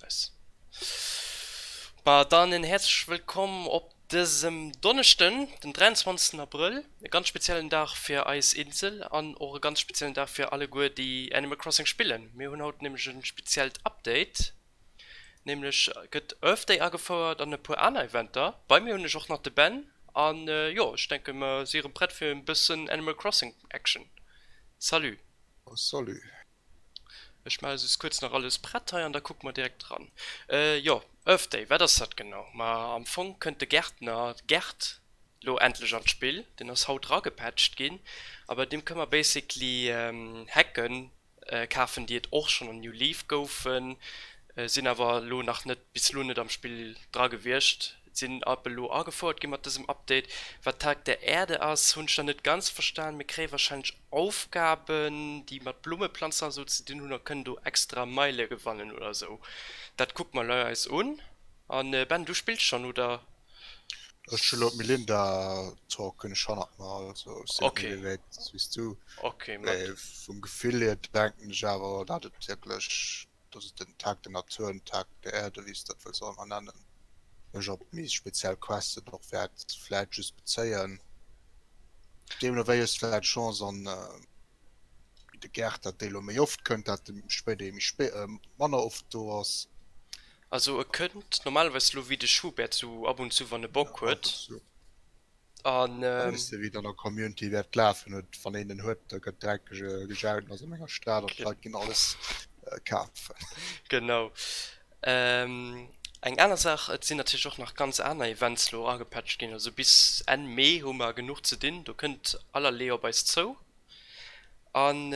Nice. Dann en häerzleche Wëllkomm op dësem Donneschden, den 23 Abrëll, e ganz speziellen Dag fir eis Insel an och e ganz speziellen Dag fir alleguer déi Animal Crossing spillen. Mir hunn haut nämlech e speziellt Update, nämlech gëtt Earth Day agefouert an e puer aner Eventer. Bei mir hunn ech och nach de Ben an jo ech denke mer si erëm prett fir e bëssen Animal Crossing Action. Salut. Salut. Ech maache just kuerz nach alles prett hei an da kucke mer direkt dran. Jo, Earth Day, wat ass dat genau? Ma am Fong kënnt de Gärtner Gerd lo endlech an d'Spill. Deen ass haut ragepatcht ginn a bei deem kënne mer basically Hecke kafen, déi et och schonn an New Leaf goufen, sinn awer elo nach net, bis elo net am Spill dra gewiescht. Sinn App elo agefouert gi mat dësem Update? Wat Tag der Erde ass hunn ech nach net ganz verstan, mee kréie wahrscheinlech Aufgaben déi mat Blummeplanzen a sou ze dinn hunn a kënnen do extra Meile gewannen oder sou. Dat kucke mer lei eis un. A Ben du spills schonn oder? Ech hu lo d'Melinda Talk hunn ech hannert mer, also ech sinn net méi wéi wäit wéis du. Mee vum Gefill hier denken ech awer dat et wierklech dass et den Tag der Natur an den Tag der Erde, wéi s de dat wëlls och ëmmer nennen, mech op méi speziell Questen och wäert vläicht just bezéien. Deemno wéi es vläicht d'Chance an de Gäert, dat dee lo méi oft kënnt, dat de spéit ee méi spéit, manner oft do ass. Also e kënnt normalerweis lo wéi de Schubert, sou ab und zu, wann e Bock huet. an wéi dann der Community wärt lafen huet wann een en huet da gëtt dreck gejaut ass an enger Stad an d'Leit ginn alles kafen. Genau eng aner Saach et sinn natierlech och nach ganz aner Events elo agepatcht ginn, also bis Enn Mee hu mer genuch ze dinn, do kënnt allerlee op eis zou an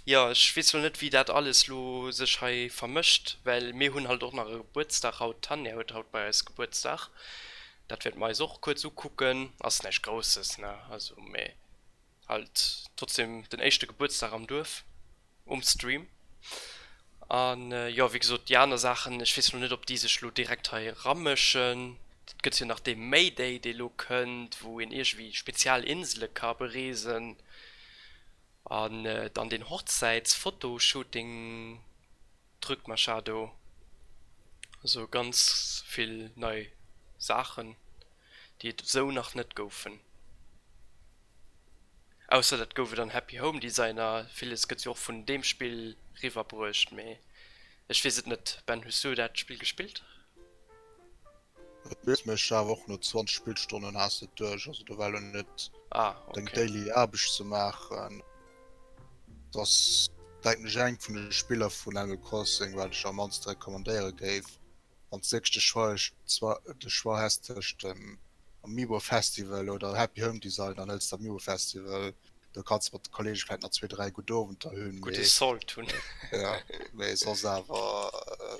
jo ech weess elo net wéi dat alles elo sech hei vermëscht well mir hunn halt och nach e Gebuertsdag haut, d'Tanja huet haut bei eis Gebuertsdag Dat wäerte mer eis och kuerz ukucken. Ass näischt Grousses, ne? Also, mee halt trotzdem den éischte Gebuertsdag am Duerf, um Stream. A jo, wéi gesot, déi aner Saachen, ech weess elo net, ob déi sech elo direkt hei eramëschen. Et gëtt jo nach dee Mayday, dee elo kënnt, wou een iergendwéi spezial Insele ka bereesen. An dann deen Hochzäits-Fotoshooting. D'Rück Machado, also ganz vill nei Saachen déi et esou nach net goufen, ausser dat gouf et an Happy Home Designer, villes gëtt jo och vun deem Spill riwwer bruecht, mee ech weess et net. Ben, hues du dat Spill gespillt? Et misst mech awer och no 20 Spillstonnen has et duerch, also do war lo net deng daily Aarbecht ze maachen. Et ass denken ech eng vun de Spiller vun Animal Crossing wat ech am mannste recommandéiere géif. Wann s de dech de Choix de Choix häss tëscht dem Amiibo Festival oder Happy Home Design, dann hëls de Amiibo Festival. Do kanns de mat de Kollege vläit nach zwee, dräi gutt Owenter hunn. Mee soss awer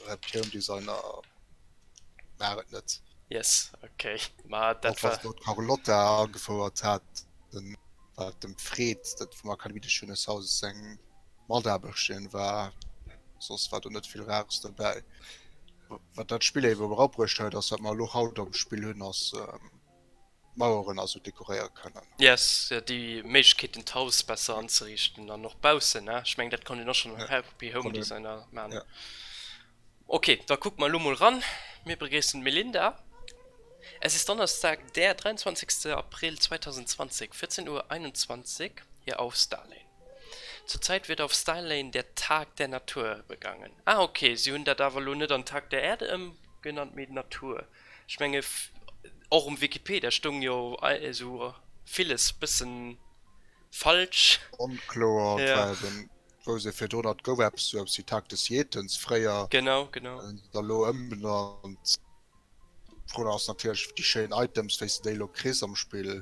Happy Home Design a War et net. Yes, ok. Ma dat war. Wat Carlotta agefouert hat, den war dem Fred, dat vum Akademie des Jeunes Hauses seng Mataarbechterin war. Soss war do net vill Rares dobäi. Wat dat Spill éiwer erabruecht huet, ass wat mer elo haut am Spill hunn, ass. Maueren a sou dekoréiere kënnen. Yes, jo, déi Méiglechkeet hunn d'Haus besser anzeriichten an och baussen, ne? Ech mengen dat konnt een och schonn am Happy Home Designer maachen. Ok, da kucke mer elo mol eran. Mir begréissen d'Melinda. Es ist Donnerstag, der 23. April 2020, 14.21 Uhr hier auf Starlane. Zurzeit wird auf Starlane der Tag der Natur begangen. Ah, ok, si hunn dat awer elo net an Tag der Erde ëmgenannt, mee Natur. Ech menge och um Wikipedia stoung jo esou villes bëssen falsch. Onkloer an et war eben wou se virdrun hat gouf eppes sou eppes wéi Tactus Jetons fréier. Genau genau. Hunn se der lo ëmbenannt. D'Fro ass natierlech déi schéin Items wéi s de déi lo kriss am Spill.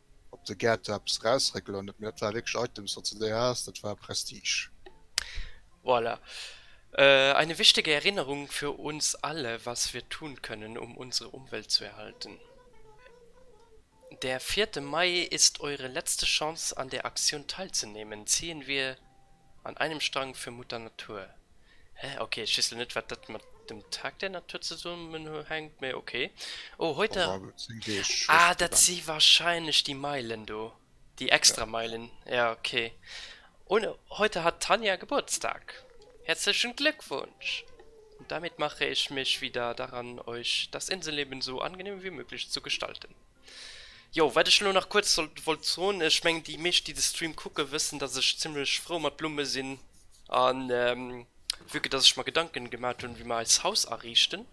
op de gär do eppes eraus réckelen huet, mee dat war wierklech Items wat se do haas, dat war Prestige. Voilà. Eine wichtige Erinnerung für uns alle, was wir tun können, um unsere Umwelt zu erhalten. Der vierte Mai ist eure letzte Chance an der Aktion teilzunehmen. Ziehen wir An einem Strang für Mutter Natur. Hä? Ok, ech weess lo net wat dat mat dem Tag der Natur zesummenhänkt, mee ok. Oh, huet der. Ah, dat si wahrscheinlech déi Meilen do, déi extra Meilen. Jo, ok. Und heute hat Tanja Geburtstag. Herzlichen Glückwunsch! Und damit mache ich mich wieder daran, euch das Inselleben so angenehm wie möglich zu gestalten. Jo, wat ech elo nach kuerz sollt wollt soen, ech mengen déi meescht déi de Stream kucke wëssen dass ech zimmlech frou mat Blumme sinn an vue que dass ech mer Gedanken gemat hunn wéi mer eist Haus ariichten.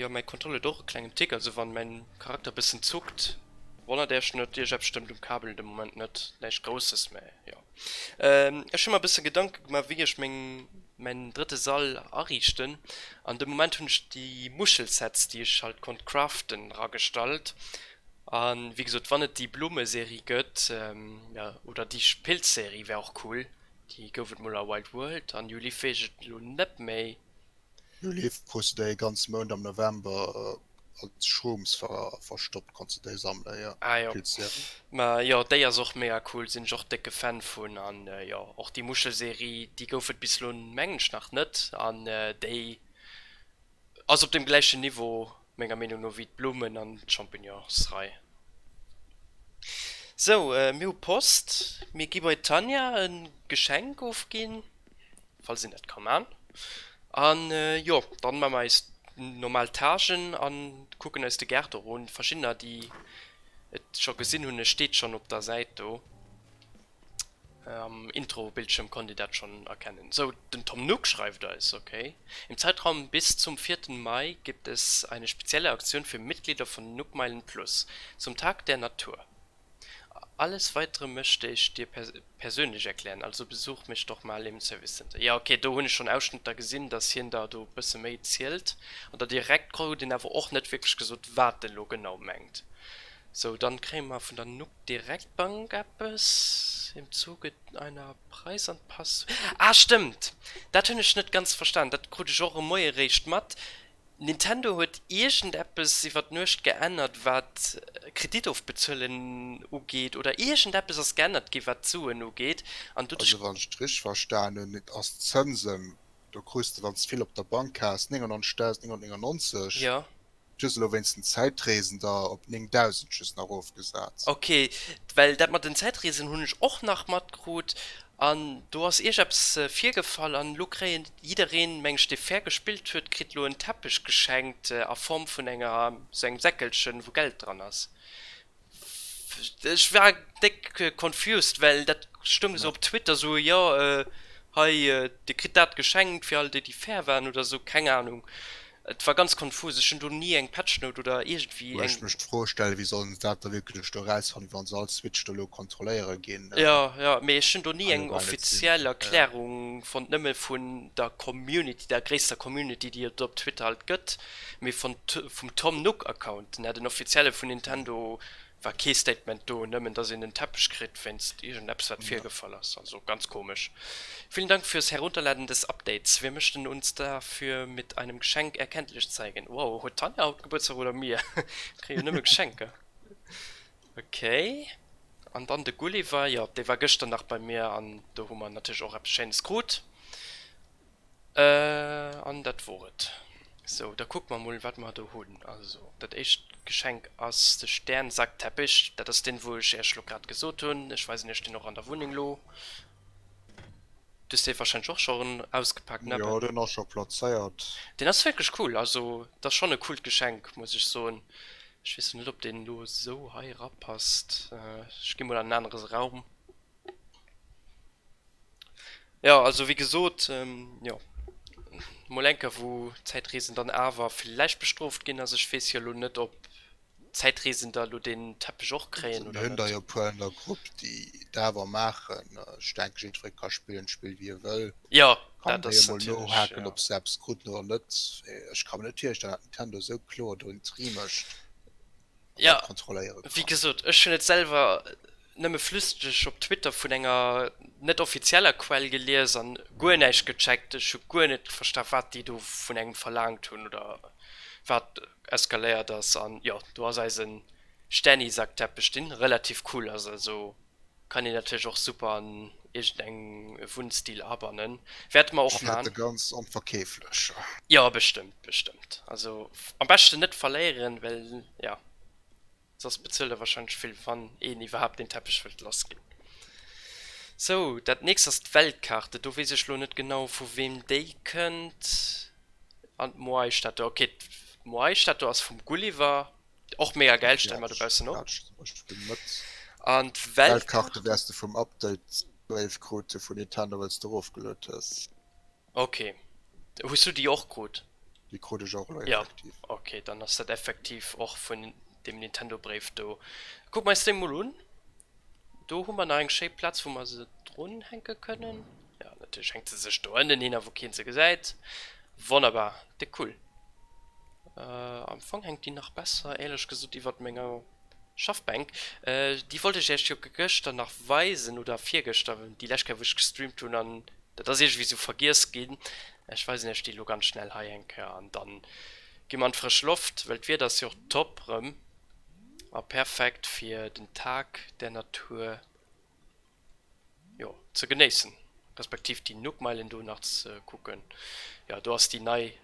Jo mäi Kontroll huet och e klengen Tick, also wann mäin Charakter bëssen zuckt wonnert äerch net, ierch eppes stëmmt um Kabel de Moment net, näischt grousses mä jo. Ech hun mer bessen Gedanken gemaach wéi ech mäin drëtte Sall ariichten an de Moment hun ech déi Muschelsets déi ech halt konnt craften ragestallt an wéi gesoot wann et déi Blummeserie gëtt oder déi Pilzserie wär och cool, déi gouf et mol a Wild World an déi Leaf wees ech lo net méi. Hie leeft pro Cde ee ganze Mount am November als Schrooms verstoppt, konns de déi sammelen? Jo, Ah jo, gudd Serie. mä jo déi ass och mega cool, sinn ech och décke Fan vun, an jo och déi Muschelserie, déi gouf et bis elo mengen ech nach net, an déi ass op dem gläichen Niveau menger Meenung no wéi d'Blummen an d'Champignonsrei. Sou, mir hu Post. Mir gi bei d'Tanja e Geschenk ofginn, falls een dat ka man. An jo, dann man mer eis normal Tâchen an kucken eis de Gaart erun. Verschiddener déi et scho gesinn hunn, e steet schonn op der Säit do. Am Intro-Bildschierm konnt dir dat schonn erkennen. Sou, den Tom Nook schreift eis, Ok. Im Zeitraum bis zum 4. Mai gibt es eine spezielle Aktion für Mitglieder von Nookmeilen Plus zum Tag der Natur. Alles weitere möchte ich dir persönlich erklären, also besuch mich doch mal im Service Center. Jo, ok, do hunn ech schonn Ausschnëtter gesinn, dass hien der do e bësse méi zielt. An der Direktcall huet en awer och net wierklech gesot, wat en elo genau mengt. Sou, dann kréie mer vun der. Direkt Bank eppes im Zuge einer Preisanpass. Ah stëmmt! Dat hunn ech net ganz verstan, dat krut ech och e Moie réischt mat. Nintendo huet iergendeppes iwwer d'Nuecht geännert wat Kreditofbezuelen ugeet oder iergendeppes ass geännert gi wat d'Suen ugeet an du dech. Also wann ech et richteg verstan hunn, et ass d'Zënsen, do krus de wann s de vill op der Bank has 99.999. Jo. just elo wéinst den Zäitreesender op 9000 just nach erofgesat. Ok, well dat mat den Zäitreesen hunn ech och nach matkrut an do ass Iech eppes virgefall an elo kréien jiddereen, meng ech, dee fair gespillt huet, kritt elo en Teppech geschenkt a Form vun enger, sou engem Säckelchen wou Geld dran ass. Ech war déck confused, well dat stoung esou op Twitter esou, jo hei dir kritt dat geschenkt fir all déi déi fair waren oder esou, keng Ahnung. Et war ganz konfus, ech hunn do ni eng Patchnote oder iergendwéi eng. Wou ech mech d'Fro stellen, wéi sollen se dat da wierklech do erausfannen, wa se all Switch do elo kontrolléiere ginn? Jo, jo, mee ech hunn do ni eng offiziell Erklärung fonnt, nëmme vun der Community, der gréisster Community déi et op Twitter alt gëtt. Mee vum Tom Nook Account, nèt en offizielle vun Nintendo, war kee Statement do, nëmmen dass een en Teppech kritt wéinst iergend eppes wat virgefall ass. Also ganz komesch. Vielen Dank fürs Herunterladen des Updates. Wir möchten uns dafür mit einem Geschenk erkenntlich zeigen. Wow, huet d'Tanja haut Gebuertsdag oder mir? Kréie nëmme Geschenker. Ok. An dann de Gulliver, jo dee war gëschter nach bei mir an do hu mer natierlech och eppes schéines krut. An dat wor et. Sou, da kucke mer mol, wat mer do hunn. Also, dat éischt Geschenk ass de Sternsaktteppich. Dat ass deen, wou ech Iech elo grad gesot hunn. Ech weisen Iech deen och an der Wunneng elo. Du hues dee warscheinlech och schonn ausgepakt, ne Ben? Jo, deen ass scho plazéiert. Deen ass wierklech cool. Also, dat ass schonn e coolt Geschenk, muss ech soen. Ech weess lo net, ob deen elo esou hei erapasst. Ech ginn mol an en anere Raum. Jo also wéi gesot jo mol enker wou Zäitreesen dann awer villäicht bestrooft ginn ass. Ech weess jo elo net ob Zäitreesen da elo deen Teppech och kréien oder net. Mir hunn der jo e puer an der Grupp déi dat awer maachen. Ech denke jiddweree ka spillen d'Spill wéi e wëll. Jo dat ass natierlech jo. Kann emol nohaken ob se eppes kruten oder net. Ech ka mer net virstellen dat Nintendo esou kloer do en Tri mécht. Ja, wéi gesot, ech hunn et selwer nëmme flüsseg op Twitter vun enger net offizieller Quell gelies an guer näischt gecheckt. Ech hu guer net versta wat déi do vun engem verlaangt hunn oder wat eskaléiert ass. An jo, do ass eisen Stänni-Sackteppech, deen relativ cool ass, also. Kann een natierlech och super an iergend eng Wunnstil abannen. Wäerte mer och maan. Ech fäert e ganz onverkeeflech. Jo bestëmmt, bestëmmt. Also am beschten net verléieren, well jo soss bezuelt e wahrscheinlech vill wann een iwwerhaapt deen Teppech wëllt lass ginn. Sou, dat nächst ass d'Weltkaart. Do weess ech lo net genau vu weem déi kënnt. An d'Moai-Stad do, ok d'Moai-Stad do ass vum Gulliver. och mega geil stellen mal dobausen ja, noch an Weltkarte wärst du vum Update 12 krut vu Nintendo wëls du ofgelot hues okay hu du die och krut die krut ech och ja okay dann ass dat effektiv och vun dem Nintendo Bréif do guck mei Steam mol un. Do hu mer nach eng schéi Platz wou mer se drun hänke kënnen. Jo natierlech hänkt se sech do ënnen hin a wou keen se gesäit. Wonnerbar, déck cool. Am Fong hänkt déi nach besser éierlech gesot iwwert menger Schaffbänk. Déi wollt ech iech jo gëschter nach weisen oder virgëschter déi lescht Kéier wou ech gestreamt hunn an dat ass iergendwéi sou vergiess ginn. Ech weisen iech déi elo ganz schnell hei eng Kéier an dann gi mer an d'frësch Loft well d'Wieder ass jo och top rëm. A perfekt fir den Tag der Natur jo ze genéissen, respektiv déi Nookmeilen do nach ze kucken. Jo do ass déi nei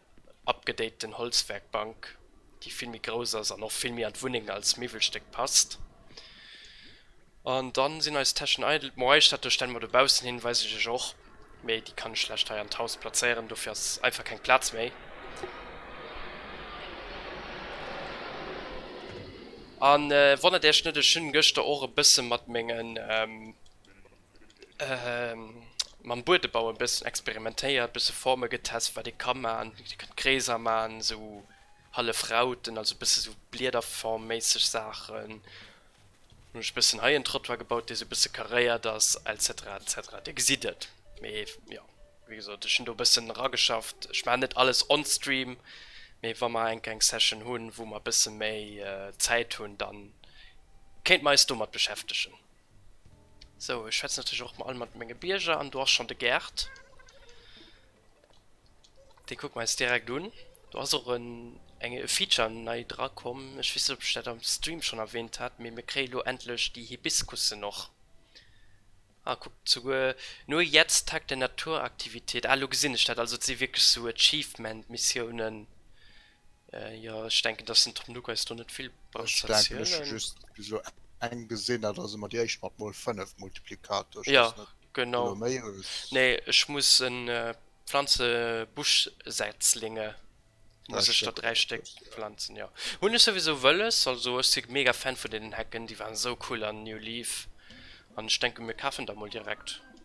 abgedaten Holzwerkbank déi vill méi grouss ass an och vill méi an d'Wunneng als Miwwelstéck passt. An dann sin eis Täschen eidel. Bon, eis Statue stellen mer dobaussen hin, weis ech iech och, mee déi kann ech schlecht hei an d'Haus plazéieren, dofir ass einfach keng Platz méi. An wonnert iech net, ech hun geschter och e bëssen mat mengen, mam Buedebau e bëssen experimentéiert, bëssen Formen getest, wat ee kann maan. Dir kënnt Kreeser maan, sou hallef Rauten, also bëssen sou Bliederform-méisseg Saachen. Hun ech bessen hei en Trottoir gebaut dee sou bessen karéiert ass etc etc dir gesidd et mee jo wéi gesot ech hun do bessen rageschafft ech maan net alles on stream mee wa mer enk eng session hun wou mer bessen méi Zäit hun dann kéint mer eis domat beschäftegen. Sou ech schwätzen natierlech och all mat menge Bierger an do ass schon de Gerd. Dee kuckt mer eis direkt un. Do ass och en eng e Feature nei dra komm. Ech weess net ob ech dat am Stream schonn erwähnt hat, mee mir kréie lo endlech déi Hibiskussen och. Ah kuckt souguer Nur jetzt Tag der Naturaktivität, ah lo gesinn ech dat, also et si wierklech sou Achievement Missiounen. Jo ech denken dass den Tom Nook eis do net vill brauch ze erzielen. Eng gesinn dat ass ëmmer déi éischt mat mol 5 Multiplikator. Jo genau nee ech muss en Pflanze Buschsätzlinge muss ech der 3 Stéck planzen. Jo hunn ech souwisou wëlles also ech si mega Fan vun deenen Hecken déi waren esou cool an New Leaf an ech denke mir kafen der mol direkt.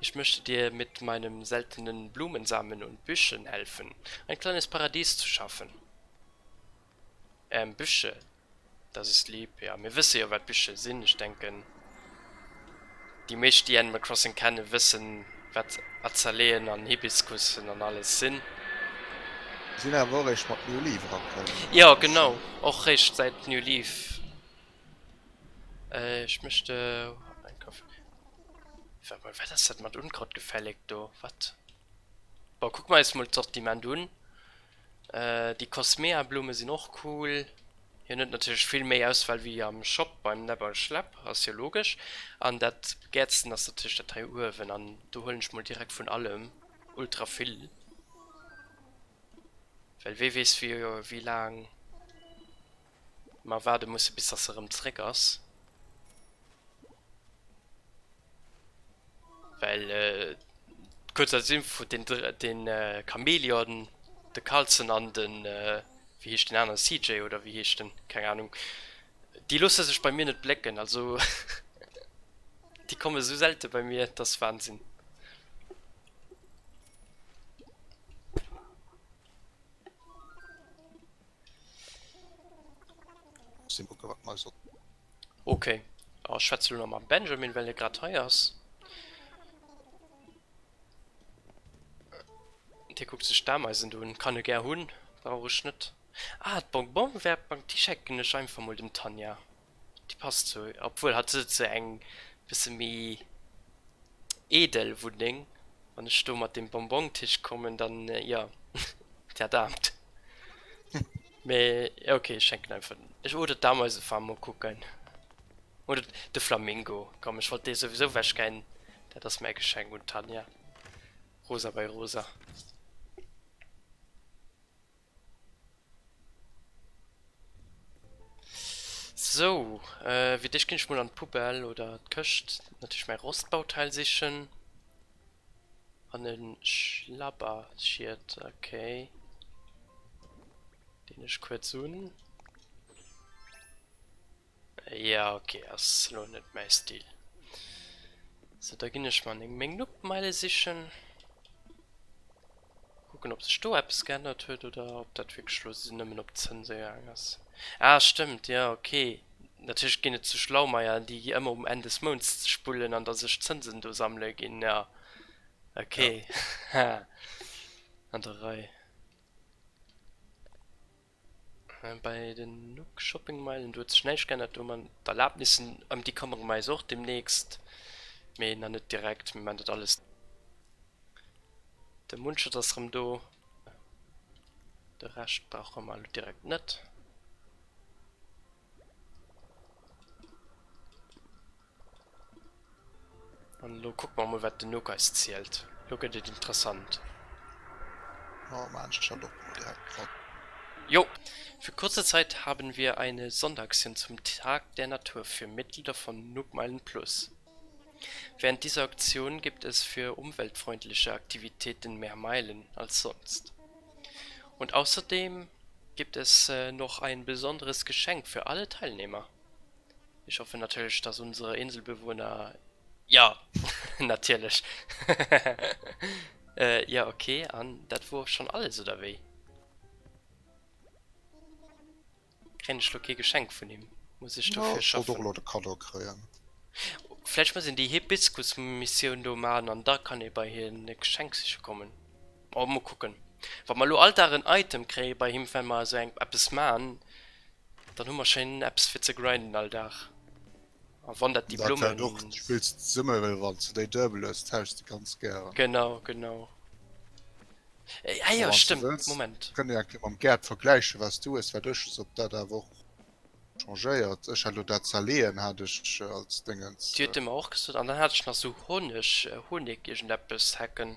Ich möchte dir mit meinem seltenen Blumensamen und Büschen helfen, ein kleines Paradies zu schaffen. Ähm, Büsche, das ist lieb. Jo, mir wësse jo, wat Büsche sinn. Ech denken, déi meescht, déi Animal Crossing kennen, wëssen, wat Azaleeën an Hibiskussen an alles sinn. Sinn awer och eréischt mat New Leaf erakënn. Jo, genau, och réischt säit New Leaf. Äh ech mechte en Kaffee. Sag mol wat ass dat mat Unkraut gefälleg do wat? Bon kuck mer eis mol d'Sortiment un. Äh déi Cosmea Blume sinn och cool. Hien huet natierlech vill méi Auswahl wéi am Shop beim Nepp a Schlepp, ass jo logesch. An dat gäertsten ass natierlech dat hei uewen an do huelen ech mol direkt vun allem ultra vill. Well wee weess wéi laang. Mer waarde musse bis dass se erëm zréck ass, well kuerz als Info, den Chameleon, de Carlson an den, wéi heescht den aneren, CJ oder wéi heescht en, keng Ahnung, déi loosse sech bei mir net blécken, also déi komme sou selte bei mir, dat ass Wahnsinn. Ok a schwätz lo mam Benjamin well e grad hei ass. Dee kuckt sech d'Ameisen un, kann e gär hunn, brauch ech net. Ah d'Bonbonwäertbank déi schecken ech einfach mol dem Tanja. Déi passt sou, obwuel hatt ass sou eng bësse méi eedel Wunneng. Wann ech do mat dem Bonbon-Tisch kommen, dann jo, dat Aamt. Mee jo, ok, ech schenken einfach den, ech, oder d'Ameisefarm, mol kucken. Oder de Flamingo, komm, ech wollt dee souwisou wechgeien, dat ass mäi Geschenk un d'Tanja. Rosa bei Rosa. Sou, fir d'éischt ginn ech mol an d'Poubelle oder d'Këscht, natierlech mäi Rostbauteil sichen. An e Schlabberschiet, ok. Deen ech kuerz un. Jo ok ass lo net mäi Stil. Sou da ginn ech mer meng Nuppmeile sichen. Kucken op sech do eppes geännert huet oder op dat wierklech lo nëmmen op Zënse gaang ass. Ah stëmmt jo ok. Natierlech ginn et sou Schlaumeier déi gi ëmmer um Enn des Mounts sech bullen an da sech d'Zënsen do sammele ginn jo ok haha an der Rei. Bei den Nuuk Shopping Meilen, do huet sech näischt geännert, do hu mer d'Erlaabnissen, ëm déi këmmere mer eis och deemnächst, mee nach net direkt, mir man dat alles. De Mundschutz ass rëm do, de Rescht brauche mer elo direkt net. An lo kuck mer mol wat den Nook eis zielt. Lo gëtt et interessant. Oh man, ech hat och direkt grad. Jo, für kurze Zeit haben wir eine Sonderaktion zum Tag der Natur für Mitglieder von Nookmeilen Plus. Während dieser Aktion gibt es für umweltfreundliche Aktivitäten mehr Meilen als sonst. Und außerdem gibt es noch ein besonderes Geschenk für alle Teilnehmer. Ich hoffe natürlich, dass unsere Inselbewohner Ja, natierlech hehehehe Ja ok, an dat wor schon alles, oder wéi? Kréien ech lo kee Geschenk vun him? Muss ech dofir schaffen? Ech wollt och lo de Kaddo kréien. Vläicht muss een déi Hibiskus-Missioun do man an da kann ee bei hien e Geschenk siche kommen. Oh, mol kucken. Wa mer lo all Dag en Item kréie bei him, well mer esou eng eppes man, dann hu mer schéin eppes fir ze grinden all Dag. A wann dat Diplom. Dat och spills summer well wann ze déi durbel ass tauschs de ganz gären. Genau genau. Ah jo stëmmt Moment. Kënne jo eng Kéier mam Gerd vergläichen wat du hues wat ech hues ob dat awer och changéiert. Ech hat lo dat Zaleeën hat ech als Déngens. Déi huet e mer och gesot an dann hat ech nach sou Honeg Honig iergendeppes Hecken.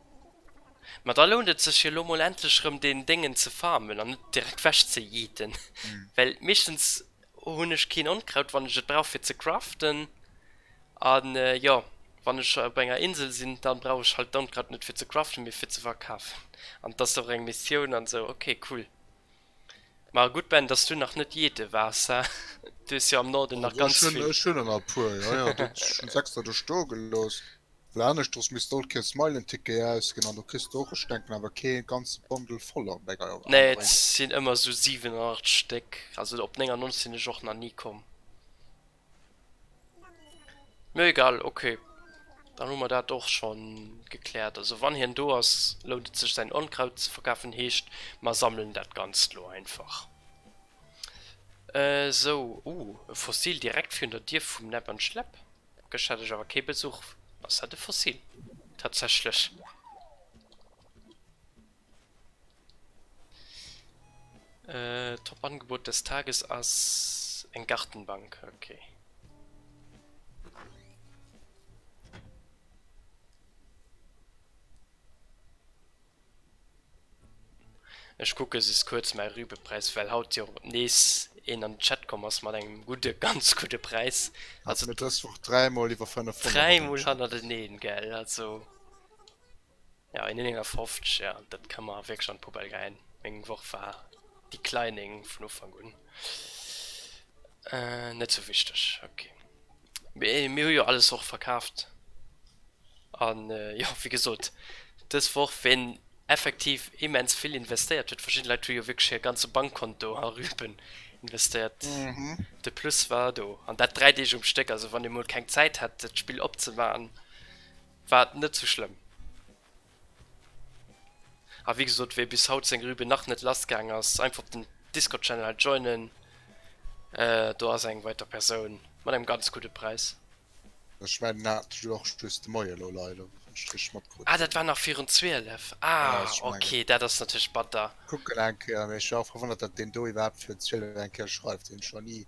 Ma da lount et sech jo lo mol endlech erëm deen Déngen ze farmen an net direkt wech ze yeeten, well meeschtens hunn ech keen Onkraut wann ech et brauch fir ze craften a jo wann ech op enger Insel sinn da brauch ech halt d'Onkraut net fir ze craften mee fir ze verkafen an et ass och eng Missioun an esou. Ok cool, ma gutt Ben dass du nach net yeete waars, ha du hues jo am Norden nach ganz vill. Ech hunn der nach e puer, jo jo, ech hunn se extra do stoe gelooss. Well aneschters misst all Kéier e Smile-en-Ticket ausginn an do kriss de och, ech denken awer, kee ganze Bundle voll an denger Aréi. Nee, et sinn ëmmer esou 7 oder 8 Stéck, also op 99 sinn ech och nach ni komm. Mee egal, ok, dann hu mer dat och scho gekläert. Also wann hien do ass, lount et sech säin Onkraut ze verkafen, heescht, mer sammelen dat Ganzt elo einfach. Esou, uh, e Fossil direkt virun der Dier vum Näpp an Schläpp. Gëschter hat ech awer kee Besuch. Ass dat e Fossil? Tatsächlech. Top Angebot des Tages ass eng Gartenbank. Okay. Ech kucken just kuerz mäi Rübepräis, well haut jo nees een an den Chat komm ass mat engem gudde, ganz gudde Präis. Hat mir dës Woch dräimol iwwer 500. Dräimol hannerteneen, gell? Also, jo, een 59, jo, dat ka mer wierklech an d'Poubelle geien. Meng Woch war declining vun Ufank un. Net sou wichteg, ok. Mee mir hu jo alles och verkaaft. An jo wéi gesot, dës Woch ween effektiv immens vill investéiert huet, verschidde Leit hu jo wierklech hir ganze Bankkonto a Rüben investéiert, de Plus war do. An dat dräi Deeg um Stéck. Also wann ee mol keng Zäit hat d'Spill opzemaachen, war et net sou schlëmm. A wéi gesot, wee bis haut seng Rübe nach net lass gaang ass, einfach op den Discord-Channel joinen. Do ass eng weider Persoun mat engem ganz gudde Präis. Ech mengen dat hat ech och just de Moie lo leider um Strich matkrutt. Ah, dat war nach virun 12? Ah, ok, dat ass natierlech batter. Ech kucken eng Kéier, mee ech war och verwonnert, datt deen do iwwerhaapt virun 12 eng Kéier schreift, deen ech nach ni.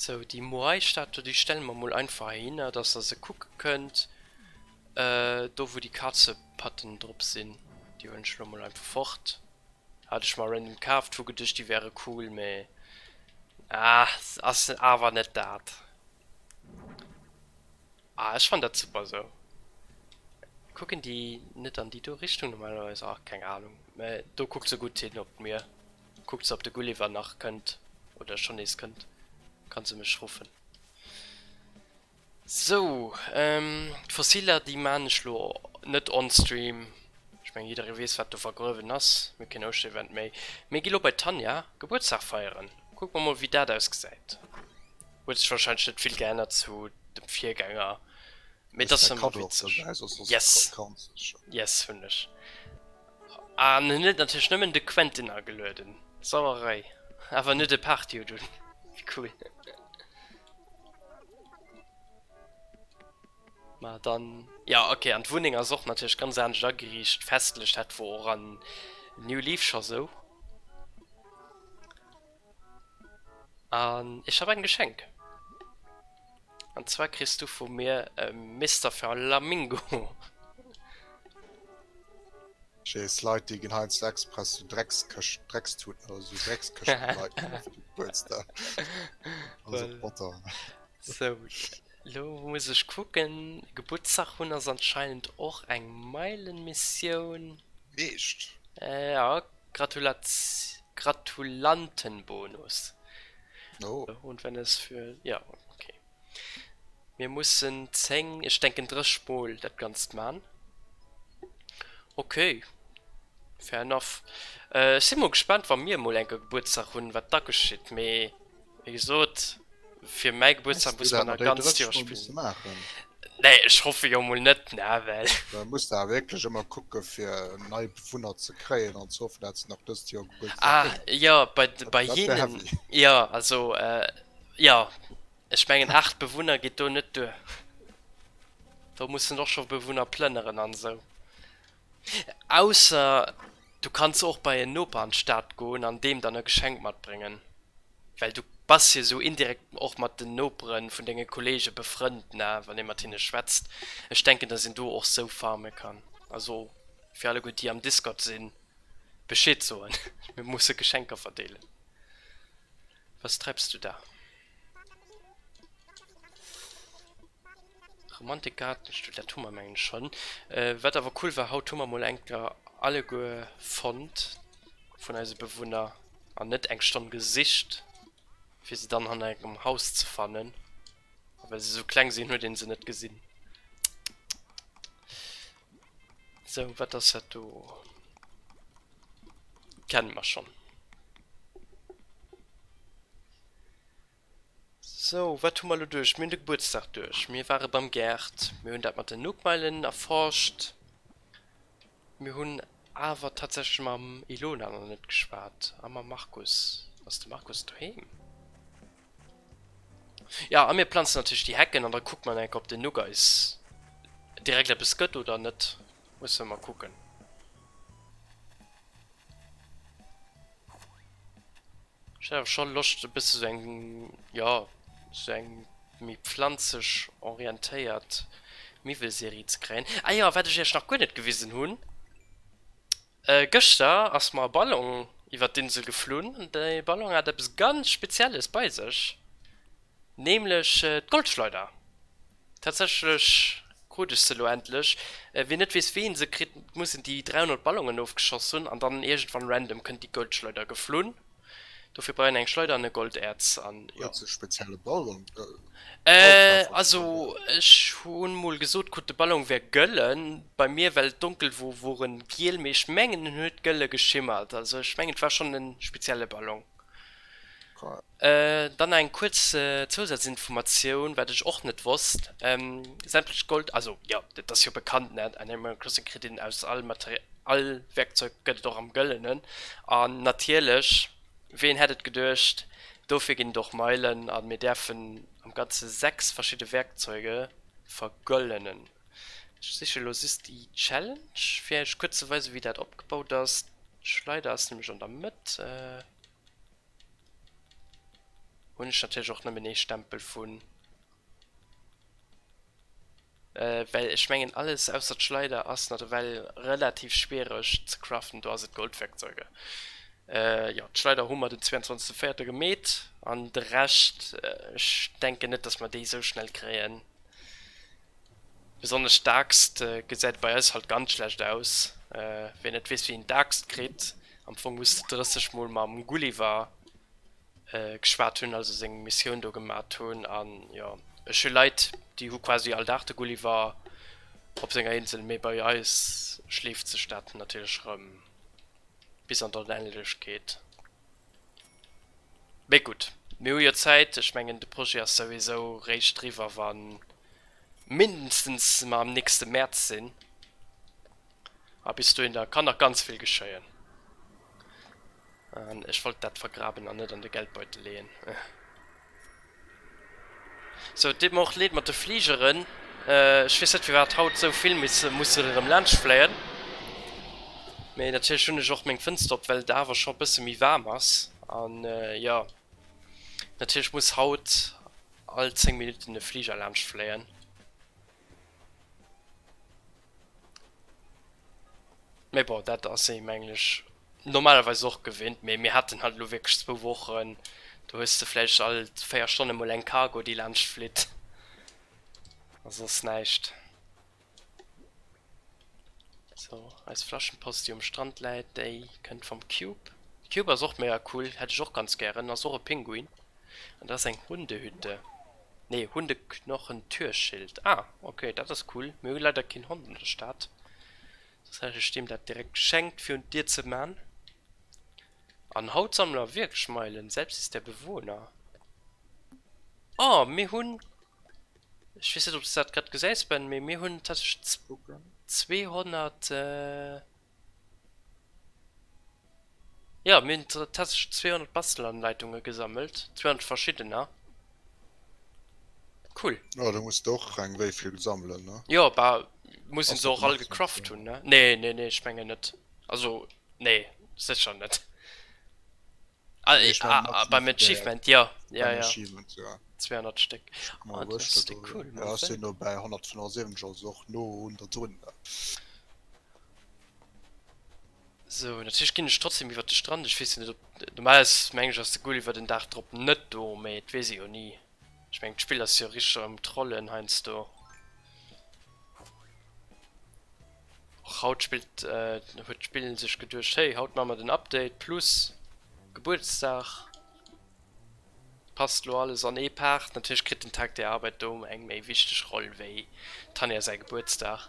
Sou, déi Moai-Statu, déi stelle mer mol einfach heihinner, dass der se kucke kënnt. Do, wou déi Kazepatten drop sinn. Déi huelen ech elo mol einfach fort. Hat ech mer random kaaft, hu geduecht, déi wäre cool, mä ah, se ass awer net dat. Ah, ech fannen dat super esou. Kucken déi net an déi do Richtung normalerweis? Ah, keng Anung, mä do kuckt se gutt hin op d'Mier. Kuckt se op de Gulliver nach kënnt oder schonn nees kënnt, kann se mech ruffen. Sou d'Fossiler déi maan ech lo net on stream, ech meng jidderee weess wat do vergruewen ass, mir keen Ouschter-Event méi. Mir gi lo bei d'Tanja Gebuertsdag feieren, kucke mer mol wéi dat ausgesäit. Huet sech wahrscheinlech net vill geännert zu dem Virgänger, mee et ass ëmmer witzeg. Yes, yes hunn ech. An en huet natierlech nëmmen de Quentin agelueden. Sauerei. Awer net e Party-Hut un. Wéi cool. Ma dann, jo ok, an d'Wunneng ass och natierlech ganz anescht ageriicht, festlich. Dat wor och an New Leaf scho sou. An ech hab eng Geschenk. An zwar kriss du vu mir e Mister Flamingo. Jeez, Leit déi ginn heiansdo express sou Dreckskëscht, Dreckstuten oder sou Dreckskëschten de Leit ginn, fir de Gebuertsdag. Also Potter. So, lo muss ech kucken, Gebuertsdag hunn ass anscheinend och eng Meilenmissioun. Meescht. Jo, Gratulantenbonus. Mir mussen 10, ech denken 30 mol dat ganzt man. Ok fair enough. Ech si mol gespannt wa mir mol enke Gebuertsdag hunn wat da geschitt mee. Wéi gesot, fir mäi Gebuertsdag muss man nach ganz Joer spillen. Nee, ech hoffe jo mol net, ne, well. Da muss de awer wierklech ëmmer kucke fir nei Bewunner ze kréien an ze hoffen, dat se nach dëst Joer Gebuertsdag hunn. Ah, jo, bei, bei hinnen, jo, also, jo, ech mengen 8 Bewunner geet do net duer. Do muss en och scho Bewunner plënneren an esou. Ausser du kanns och bei en Noper an d'Stad goen an deem dann e Geschenk matbréngen. Well du bass jo sou indirekt och mat den Nopere vun denge Kolleege befrënnt, ne, wann ee mat hinne schwätzt. Ech denken, datt een do och sou farme kann. Also fir alleguer, déi am Discord sinn, Bescheed soen, mir musse Geschenker verdeelen. Was treibs du da? Romantik Gaartenstull, dat hu mer mengen ech schonn. Wat awer cool war, haut hu mer mol eng Kéier alleguer fonnt vun eise Bewunner an net eng Stonn gesicht fir se dann hanner engem Haus ze fannen. A well se esou kleng sinn, huet ee se net gesinn. Sou, wat ass dat do? Kenne mer schonn. Sou, wat hu mer elo duerch? Mir hunn de Gebuertsdag duerch, mir ware beim Gerd, mir hunn dat mat den Nookmeilen erforscht. Mir hunn awer tatsächlech mam Ilona nach net geschwat. A mam Markus? Ass de Markus doheem? Ja, a mir planzen natierlech déi Hecken an da kucke mer enk, ob den Nuck eis direkt eppes gëtt oder net. Musse mer mol kucken. Ech hätt awer scho Loscht e bësse sou eng, jo, sou eng méi pflanzeg orientéiert Miwwelserie ze kréien. Ah jo, wat ech iech nach guer net gewisen hunn. Gëschter ass mer e Ballon iwwert d'Insel geflunn. Dee Ballon hat eppes ganz Spezielles bei sech, nämlech d'Goldschleuder. Tatsächlech krut ech se elo endlech. Wien net weess, wéi ee se kritt, muss een déi 300 Ballonen ofgeschoss hunn an dann iergendwann random kënnt déi Goldschleuder geflunn. Dofir brauch een eng Schleider an e Golderz an jo. Huet se spezielle Ballon? Äh also ech hunn mol gesot krut de Ballon wär gëllen, bei mir well et donkel wor wor en giel mee ech mengen en huet gëlle geschimmert also ech mengen et war schonn en spezielle Ballon. Dann nach eng kuerz Zousatzinformatioun wat ech och net wosst, sämtlech Gold, also jo dat ass jo bekannt ne, Animal Crossing kritt een aus all Material, All Werkzeug gëtt et och am Gëllenen. An natierlech, ween hätt et geduecht, dofir ginn et och Meilen a mir däerfen am Ganze 6 verschidde Werkzeuge vergëllenen. Ech siche lo just déi Challenge, fir Iech kuerz ze weisen, wéi dat opgebaut ass. D'Schleider ass nämlech an der Mëtt. Hunn ech natierlech och nëmmen ee Stempel vun. Well ech mengen alles ausser d'Schleider ass na ewell relativ schwiereg ze craften, do ass et Goldwerkzeuge. Jo d'Schleider hu mer den 22 véierter gemeet an de Rescht ech denken net dass mer déi esou schnell kréien. Besonnesch d'Aaxt gesäit bei eis halt ganz schlecht aus. Ween net weess wéi een d'Aaxt kritt, am Fong muss de 30 mol mam Gulliver. geschwat hunn, also seng Missioun do gemat hunn. An jo, ech hu Leit, déi hu quasi all Dag de Gulliver op senger Insel, mee bei eis schleeft sech dat natierlech erëm bis an d'Onendlechkeet. Mee gutt, mir hu jo Zäit. Ech mengen, de Projet ass souwisou réischt driwwer, wa mindestens mer am nächste Mäerz sinn. A bis dohin, da kann nach ganz vill geschéien. An ech wollt dat vergraben an net an de Geldbeutel leeën. So, et deet mer och leed mat de Fligeren. Ech weess net, firwat haut esou vill misse mussen erëm laanscht fléien. Mee natierlech hunn ech och meng Fënster op, well et awer scho e bësse méi waarm ass. An jo, natierlech muss haut all 10 Minutten e Fliger laanscht fléien. Mee bon, dat ass ee menglech normalerweis och gewinnt, mee mir haten halt elo wierklech zwou Wochen, do hues de vläicht all 4 Stonne mol eng Cargo déi laanscht flitt a soss näischt. Sou, eis Flaschenpost déi um Strand läit, déi kënnt vum Cube. Cube ass och mega cool, hätt ech och ganz gären, ass och e Pinguin an dat ass eng Hundehütte. Nee hun de Knochen Türschild. Ah ok dat ass cool, mir hu leider keen Hond an der Stad, soss hätt ech deem dat direkt geschenkt fir un d'Dier ze man. An haut sammele mer wierklech Meilen, selbst ist der Bewohner. Oh mir hunn, ech weess net ob s du dat grad gesäis Ben, mee mir hunn tatsächlech 200. Jo mir hunn tatsächlech 200 Bastelanleitunge gesammelt, 200 verschiddener, cool. Jo do muss de och reng wéi vill sammelen ne? Jo bah muss een se och all gecraft hunn ne? Nee nee nee ech mengen net, also nee sécher net. Ah beim Achievement jo jo jo 200 Stéck, ah dat ass déi cool. Jo ech sinn elo bäi 175 also och no un der drun. Sou, natierlech ginn ech trotzdem iwwert de Strand, ech weess jo net op, normalerweis mengen ech ass de Goal iwwert den Daach drop net do, mee et weess ee jo ni, ech mengen d'Spill ass jo richteg am trollen heiansdo. Och haut spillt huet d'Spill sech geduecht, hey haut maache mer den Update plus Gebuertsdag, passt lo alles an ee Part, natierlech kritt den Tag der Arbeit do eng méi wichteg Roll wéi Tanja säi Gebuertsdag.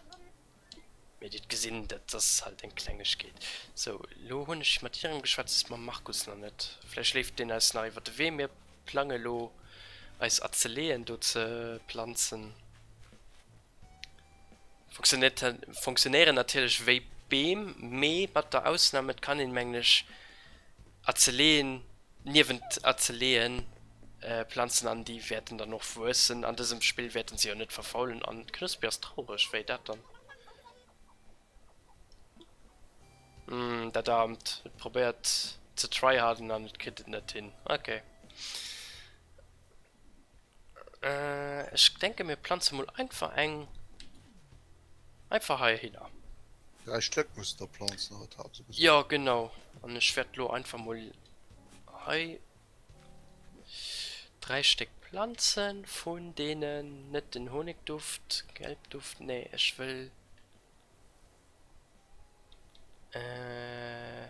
Mee dir gesinn, dat ass halt eng Klengegkeet. Sou, elo hunn ech mat hirem geschwätzt, mam Markus nach net. Vläicht léift deen eis nach iwwer de Wee. Mir plange elo, eis Azeleeën do ze planzen. Funktionéieren natierlech wéi Beem, mee mat der Ausnam, et kann een, mengen ech, a ze leeën, niewent a ze leeën Planzen an déi wäerten dann och wuessen. An dësem Spill wäerten se jo net verfaulen an d'Knuspi ass traureg, wéi dat dann? Umm dat aarmt, et probéiert ze tryharden an et kritt et net hin, ok. Äh ech denken mir planzen mol einfach eng einfach hei hinner. 3 Stëck muss der planzen huet hat se gesot. Jo genau an ech wärt lo einfach mol hei 3 Stéck planzen vun deenen net den Honigduft, Gelbduft nee ech wëll äh.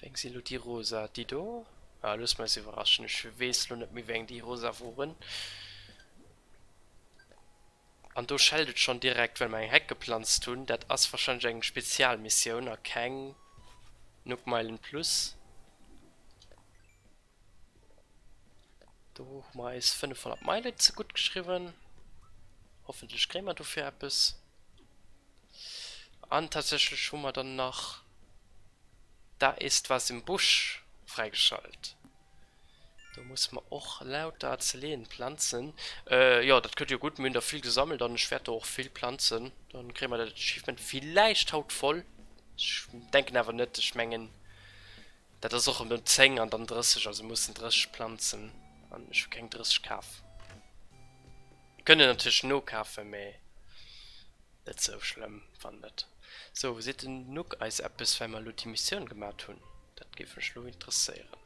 Wéng si lo déi rosa? Déi do? Ah looss mer eis iwwerraschen, ech weess lo net méi wéng déi rosa woren. An do schellt et schon direkt well mer eng Heck geplanzt hunn, dat ass wahrscheinlech eng Spezialmissioun a keng Nook Meilen Plus. Do hu mer eis 500 Meile ze gutt geschriwwen. Hoffentlech kréie mer dofir eppes. An tatsächlech hu mer dann nach Da ist was im Busch fräigeschalt. Do musse mer och lauter Azeleen planzen. Jo, dat kënnt jo gutt. Mir hunn der vill gesammelt an ech wäert der och vill planzen. Dann kréie mer dat Achievement villäicht haut voll. Ech denken awer net. Ech mengen, Dat ass och emol 10 an dann 30, also mussen 30 planzen an ech hu keng 30 kaf. Mir kënnen natierlech nokafen, mä net sou schlëmm wann net. Sou, seet den Nuke eis eppes wei mer elo déi Missioun gemat hunn? Dat géif mech elo interesséieren.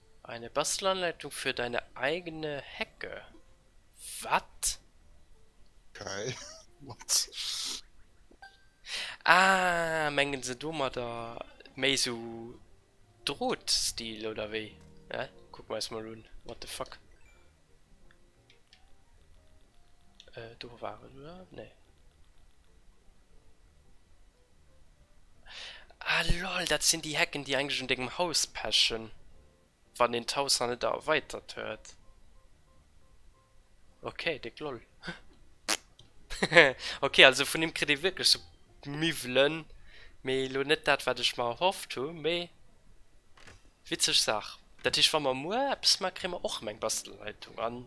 Eine Bastelanleitung für deine eigene Hecke? Wat? Okay, what? Ah, mengen se domadder méi esou Drot-Stil oder wéi? Hä? Kucken mer eis mol un, what the fuck? Äh, do war en, oder? Nee. Ah lol, dat sinn déi Hecken déi eigentlech un dengem Haus pechen, wann een d'Haus nach net erweitert huet. Ok déck lol. Ok also vun him kritt ee wierklech sou Miwwelen, mee elo net dat wat ech mer erhofft hu, mee witzeg Saach. Dat heescht wa mer muer eppes maache kréie mer och erëm eng Bastelleitung an.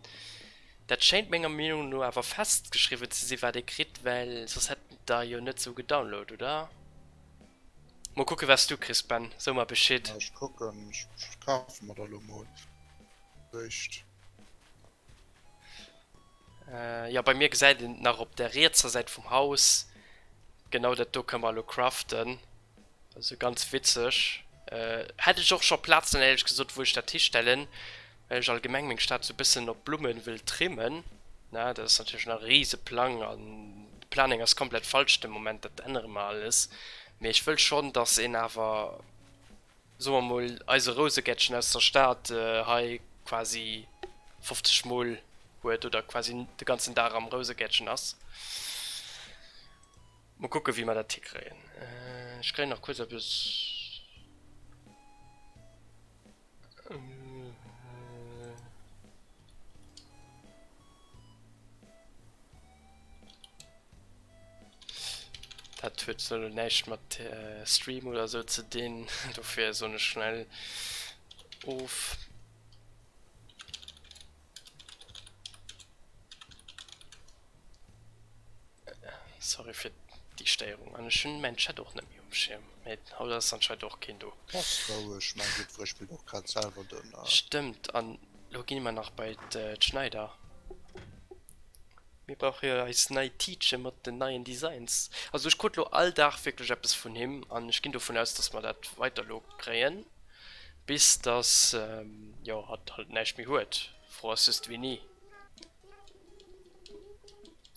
Dat schéint menger Meenung no awer festgeschriwwen ze si wat ee kritt, well soss hätt der jo net sou gedownload, oder? Mol kucke wats du kriss Ben, so mer Bescheed. Ech kucken, ech kafe mer der lo mol eréischt. Jo bei mir gesäit een nach op der rietser Säit vum Haus genau dat do, kënne mer elo craften. Also ganz witzeg. Hätt ech och scho Plazen éierlech gesot wou ech dat histellen, well ech allgemeng meng Stad sou bëssen op Blummen wëll trimmen. Dat ass natierlech nach e riise Plang an de Planning ass komplett falsch de Moment, dat ännere mer alles. Mee ech wëll schonn datt een awer soe mer mol eise Rousegäertchen aus der Stad hei quasi 50 mol huet oder quasi de ganzen Dag am Rousegäertchen ass. Mol kucken wéi mer dat hikréien. Ech kréien nach kuerz eppes. Dat huet sou näischt mat Stream oder sou ze dinn, dofir soen ech schnell of. Sorry fir déi Stéierung. An ech hunn mäin Chat och net méi um Schierm. Mee haut ass anscheinend och keen do. Bass roueg, mäin Guidewuer spillt och grad selwer dënner. Stëmmt, an elo gi mer nach bei d'Schneider. Mir brauche jo eis nei Tiitche mat den neien Designs. Also ech krut elo all Dag wierklech eppes vun him an ech ginn dovun aus, datt mer dat weider elo kréien, bis datt jo hatt halt näischt méi huet, fro ass just wéini.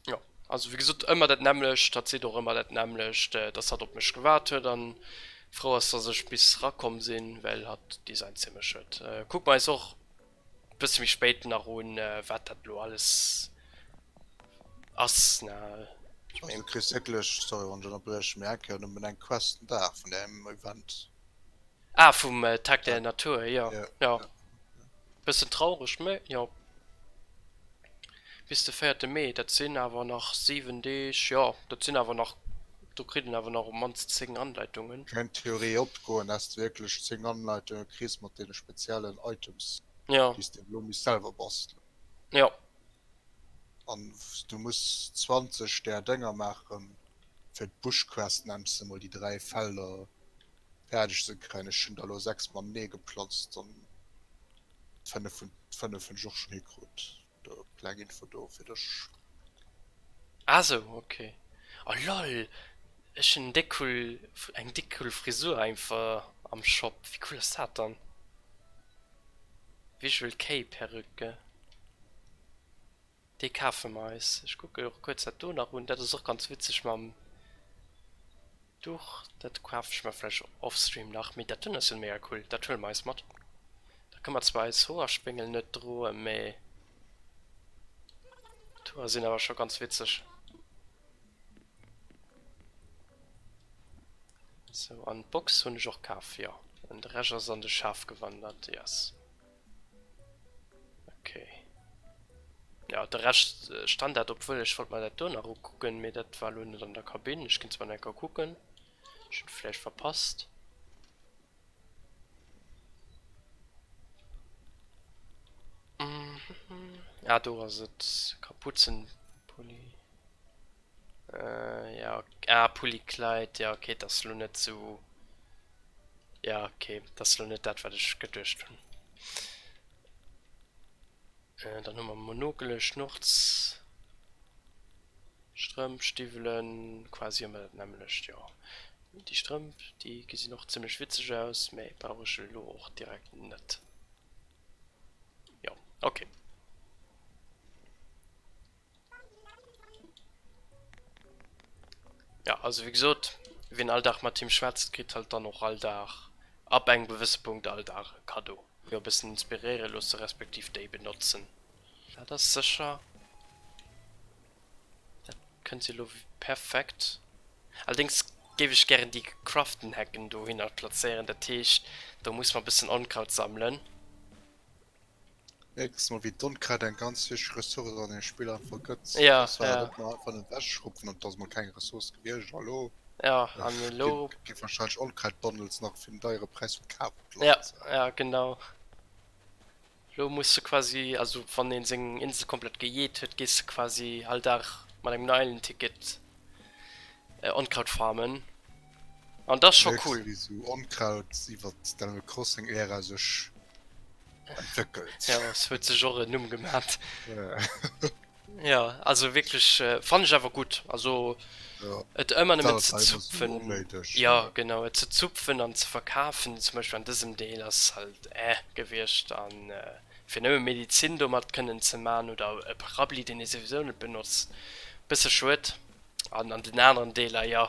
Jo, also wéi gesot, ëmmer dat nämmlecht, hatt seet och ëmmer dat nämmlecht, datt hatt op mech gewaart huet an frou ass, datt ech bis rakomm sinn, well hatt Designshemecht huet. Kucke mer eis och Bësse méi spéit nach un, wat dat elo alles ass, ne? Also du kriss wierklech, sorry wann ech ënnerbriechen, mee eng Kéier nëmmen eng Quest den Dag vun där Event. Ah, vum Tag der Natur, jo. Jo. Bëssen traureg, mee jo. Bis de véierte Mee, dat sinn awer nach siwen Deeg, jo, dat sinn awer nach, do kritt een awer nach op d'mannst zéng Anleitungen. Meng Theorie opgoen, dass de wierklech zéng Anleitunge kriss mat deene speziellen Items, Jo. déi s de elo misst selwer bastelen. Jo. An du muss 20 där Dénger maachen, fir d'Bushquest nennst de mol, déi dräi Felder fäerdeg ze kréien. Ech hunn der elo sechs matenee geplotzt. 5 vun 5 hun ech och schon hikrut, do kleng info do fir dech. Ah sou ok, oh lol ech hun déck cool eng déck cool Frisur einfach am Shop, wéi cool ass dat dann? Visual Kei Perücke. Dee kafe mer eis. Ech kucken och kuerz dat do nach un. Dat ass och ganz witzeg mam Duch. Dat kafe ech mer vläicht offstream nach. Mee dat do ass jo mega cool. Dat huele mer eis mat. Da kënne mer zwar eis Hoerspéngel net droen, mee d'Hoer sinn awer scho ganz witzeg. Sou, an d'Box hunn ech och kaf, jo. An de Rescht ass an de Schaf gewandert, yes. Okay. Ja, de Recht äh, stand dat, obwuel ech wollt mal dat do nach ukucken, mir dat war lo net an der Kabin. Ech ginn zwar enker kucken, ech hunn vläicht verpasst. Mhm. Ah, do ass et, Kapuzenpulli. Äh jo ah Pulli Kleid jo ok dat ass elo net sou jo ok dat ass elo net dat wat ech geduecht hunn. Äh dann hu mer Monokele, Schnurz, Strëmp, Stiwwelen, quasi ëmmer dat nämmlecht jo. Déi Strëmp déi gesinn och zimmlech witzeg aus, mä brauch ech elo och direkt net. Jo ok. Ja, also wéi gesot, wien all Dag mat him schwätzt, kritt halt dann och all Dag, ab engem gewësse Punkt, all Dag e Kaddo. Jo, e bëssen inspiréiere loosse respektiv déi benotzen. Dat ass sécher. Dat kënnt elo perfekt. Allerdéngs géif ech gären déi gecraften Hecken dohinner plazéieren. Dat heescht, do muss mer e bëssen Onkraut sammelen. Mierks mol wéi d'Onkräid eng ganz wichteg Ressource an deem Spill einfach gëtt. Ja, Dass wir ja. dat mal einfach net wegschruppen an dass mal keng Ressource gewiescht. Hallo? Ja, an Gi, elo. gi wahrscheinlech Onkräid-Bundles nach fir den deiere Präis vum Kaarpot Ja, lass. ja, genau. Elo muss du quasi, also wann een seng Insel komplett gejeet huet, gees du quasi all Dag mat engem Meilen-Ticket äh, Onkraut farmen. An das scho cool wéi sou Onkraut iwwert d'Animal Crossing Ära sech entwéckelt. Ja et huet sech och en Numm gemat. Ja also wierklech fannen ech awer gutt also et ëmmer nëmmen ze zupfen. Jo genau et ze zupfen an ze verkafen zum Beispill an dësem Deel ass halt eh gewiescht an fir nëmme Medizin domat kënnen ze man oder e Paraapluie deen ee souwisou net benotzt bësse schued. An an den aneren Deeler, jo,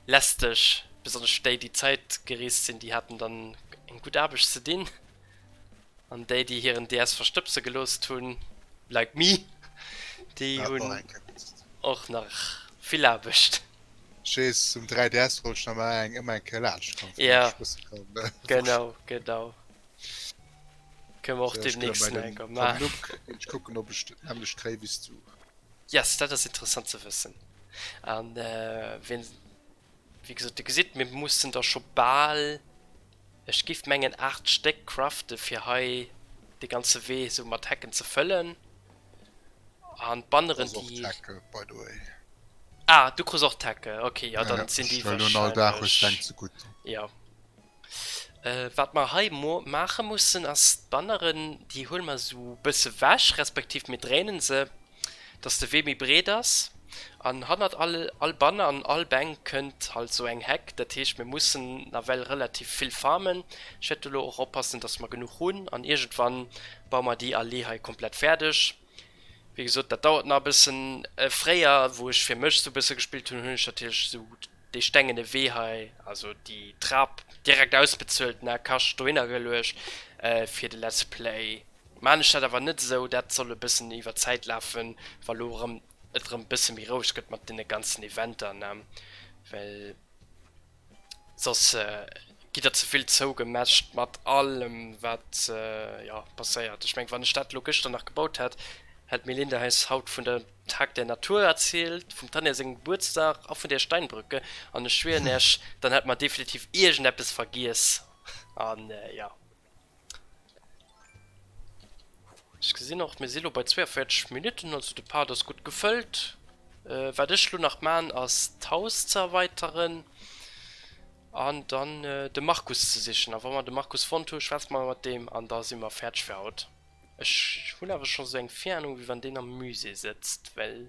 lästeg, besonnesch déi, déi Zäit gereest sinn, déi haten dann eng gutt Aarbecht ze dinn. An déi, déi hiren DS verstëbse geloosst hunn, like me, déi hunn och nach vill Aarbecht. Ech weess, um 3DS wollt ech nach mol eng ëmmer eng Kéier laanscht kommen, fir nach Spuss ze kommen. Genau, genau. Kënne mer och deemnächst nach eng Kéier maachen. Ech kucken, ob ech dat nämmlecht kréien, wéi s du. Yes, dat ass interessant ze wëssen. An wien wéi gesot de gesitt, mir mussen der scho bal ech giff mengen 8 Stéck crafte fir hei de ganze Wee sou mat Hecken ze fëllen. An d'Banneren déi. Ah du krus och d'Hecke, okay, ja dann sinn déi wahrscheinlech. Ja. Wat mer hei maache mussen ass d'Banneren, déi huele mer esou e bësse wech, respektiv mir dréinen se, dass de Wee méi breet ass. An hannert all Banner an all Bänk kënnt halt esou eng Heck. Dat heescht, mir mussen nawell relativ vill farmen. Ech wäert elo och oppassen, dass mer genuch hunn an iergendwann baue mer déi Allee hei komplett fäerdeg. Wéi gesot, dat dauert nach e bëssen. Fréier, wou ech fir mech esou e bësse gespillt hunn, hunn ech natierlech esou dee stengene Wee hei, also déi Trap, direkt ausbezuelt, an al Kascht dohinner geluecht fir de Let's Play. Maan ech dat awer net esou, dat soll e bëssen iwwer d'Zäit lafen, wa lo erëm et erëm e bësse méi roueg gëtt mat deene ganzen Eventer, ne? Well. soss gitt der ze vill zougemescht mat allem wat jo passéiert. Ech meng wann ech dat elo gëschter nach gebaut hätt, hätt d'Melinda eis haut vun der Tag der Natur erzielt, vum Tanja sengem Gebuertsdag a vun der Steinbrücke an ech schwieren iech dann hätt mer definitiv iergendeppes vergiess an jo. Ech gesinn och mir si lo bei 42 Minutten, also de Part ass gutt gefëllt. Äh wat ech lo nach man ass d'Haus ze erweiteren an dann de Markus ze sichen a wa mer de Markus fonnt hu schwätze mer mat deem an da si mer fäerdeg fir haut. Ech hunn awer scho sou eng Viahnung wéi wann deen am Musée sëtzt well.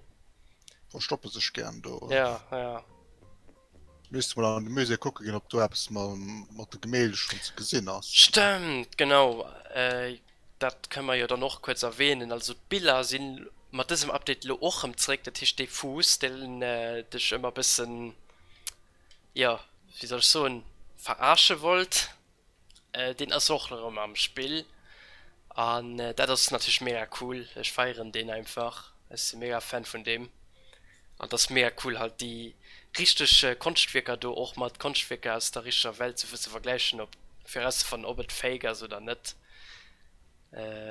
Verstoppe sech gären do, oder? Ja, ja. Misst mol an de Musée kucke ginn, ob do eppes mat de Gemälde schonn ze gesinn ass. Stëmmt, genau, dat kënne mer jo dann och kuerz erwänen. Also d'Biller si mat dësem Update elo och rëm zréck. Dat heescht, dee Fuuss, deen dech ëmmer e bëssen, jo, wéi soll ech soen, verarsche wollt, Deen ass och erëm am Spill an dat ass natierlech mega cool. Ech feieren deen einfach, ech si mega Fan vun deem an et ass mega cool halt déi richteg Konschtwierker do och mat Konschtwierker aus der richteger Welt souwuel ze vergläichen op fir erauszefannen ob et fake ass oder net.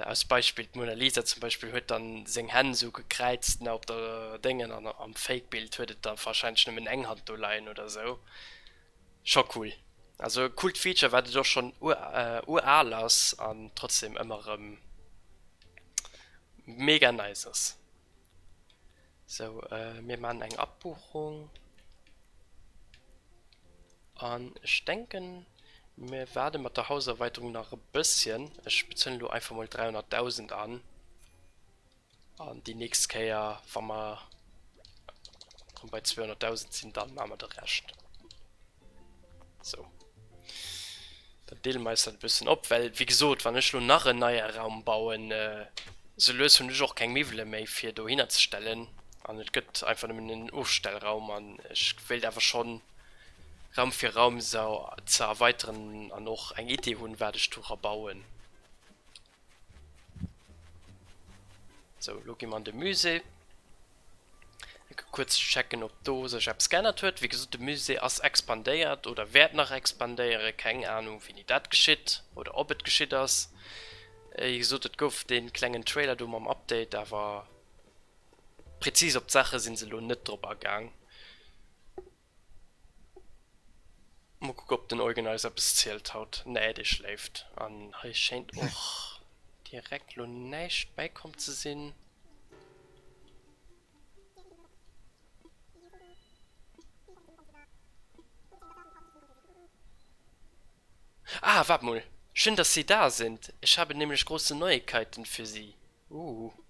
Aus Beispill d'Mona Lisa zum Beispill huet dann seng Hänn esou gekräizt ne op der Déngen an am Fake Bild huet et da wahrscheinlech nëmmen eng Hand do leien oder esou. Scho cool. Also e coolt Feature wat et och schon uraal ass an trotzdem ëmmer rem mega nice ass. Sou mir maan eng Abbuchung an ech denken mir waarden mat der Hauserweiterung nach e bësschen. Ech bezuelen elo einfach mol 300.000 an. An déi nächst Kéier, wa mer erëm bei 200.000 sinn, da maache mer de Rescht. Sou. Dann deele mer eis dat e bëssen op, well, wéi gesot, wann ech elo nach en neie Raum bauen, sou lues hunn ech och keng Miwwele méi, fir dohinner ze stellen. An et gëtt einfach nëmmen en Ofstellraum. An ech wéilt awer schonn Raum fir Raum se ze erweiteren an och eng Idee hunn, wat ech do erabauen. So, lo gi mer an de Musée. Ecke kuerz checken, ob do sech eppes geännert huet. Wéi gesot, de Musée ass expandéiert oder wäert nach expandéieren. Keng Anung, wéini dat geschitt oder ob et geschitt ass. Wéi gesot, et gouf dee klengen Trailer do mam Update, awer prezis op d'Saache si se elo net drop agaang. Mol kucken op den Eugen eis eppes zielt haut. Nee dee schléift an hei schéint och direkt lo näischt bäikomm ze sinn. Ah waart mol, schön dass Sie da sind, ich habe nämlich große Neuigkeiten für Sie. Ooh.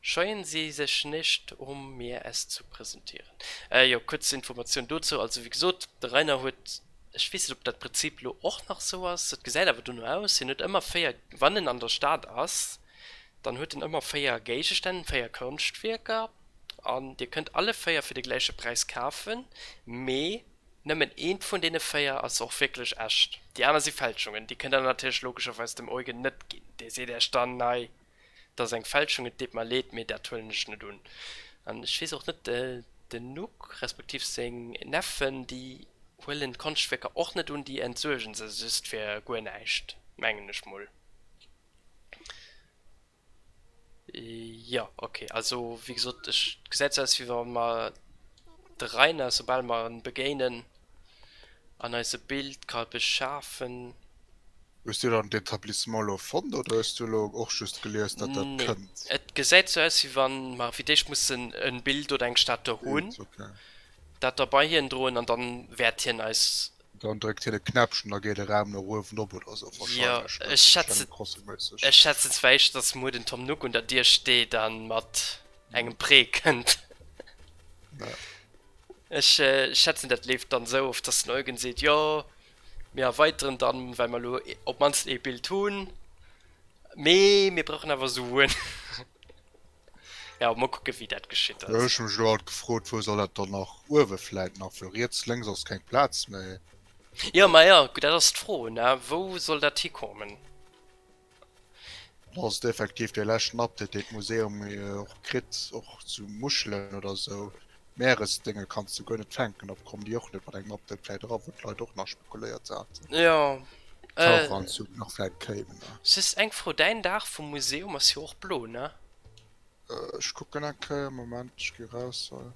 Scheuen se sech nicht, um mir es zu präsentieren. Jo, kuerz Informatioun dozou. Also, wéi gesot, de Rainer huet, ech weess net, ob dat Prinzip elo och nach esou ass, et gesäit awer dono aus, hien huet ëmmer véier, wann en an der Stad ass, dann huet en ëmmer véier Géigestänn, véier Konschtwierker, an Dir kënnt alle véier fir de gläiche Präis kafen, mee nëmmen eent vun deene véier ass och wierklech echt, déi aner si Fälschungen. Déi kënnt Der natierlech logescherweis dem Eugen net ginn, dee seet Iech dann, Nei, T'ass eng Fälschung, et deet mer leed, mee dat huelen ech net un. An ech weess och net, den Nuck, respektiv seng Neffen, déi huelen d'Konschtwierker och net un, déi entsuergen se just fir guer näischt, mengen ech mol. Jo, ok, also wéi gesot, et gesäit esou aus, wéi wa mer de Rainer, soubal mer en begéinen, an eis e Bild ka beschafen. Hues du dann d'Etablissement lo fonnt oder hues du lo och just gelies dat dat kënnt? Nee, et gesäit sou aus wéi wann mer fir d'éischt mussen e Bild oder eng Statue hunn, dat da bei hien droen an dann wäert hien eis. Dann dréckt hien e Knäppchen an da geet e Raum no uewen op oder sou wahrscheinlech, jo ech schätzen, ech schätzen zwar éischter dass muer den Tom Nook un der Dier steet an mat engem Prêt kënnt. Ech schätzen dat leeft dann esou of, dass den Eugen seet, jo mir erweiteren dann well mer elo op d'mannst ee Bild hunn, mee mir brauchen awer Suen. Jo mol kucken wéi dat geschitt Jo, ass. ech hu mech elo alt gefrot, wou soll dat dann nach uewe vläit nach, well riets lénks ass keng Plaz méi. Jo, ma jo, dat ass d'Fro, ne, wou soll dat hikomen? Et ass effektiv dee leschten Update deen d'Museum och kritt, och zu Muschelen oder esou Meeresdénge kanns de guer net fänken, op kommen déi och net mat engem Update vläit era, wou d'Leit och nach spekuléiert haten, Taucheranzug nach vläit kéim. S, Siss eng Fro, däin Daach vum Museum ass jo och blo, ne? A, Ech kucken eng Kéier, Moment, ech gi raus hei.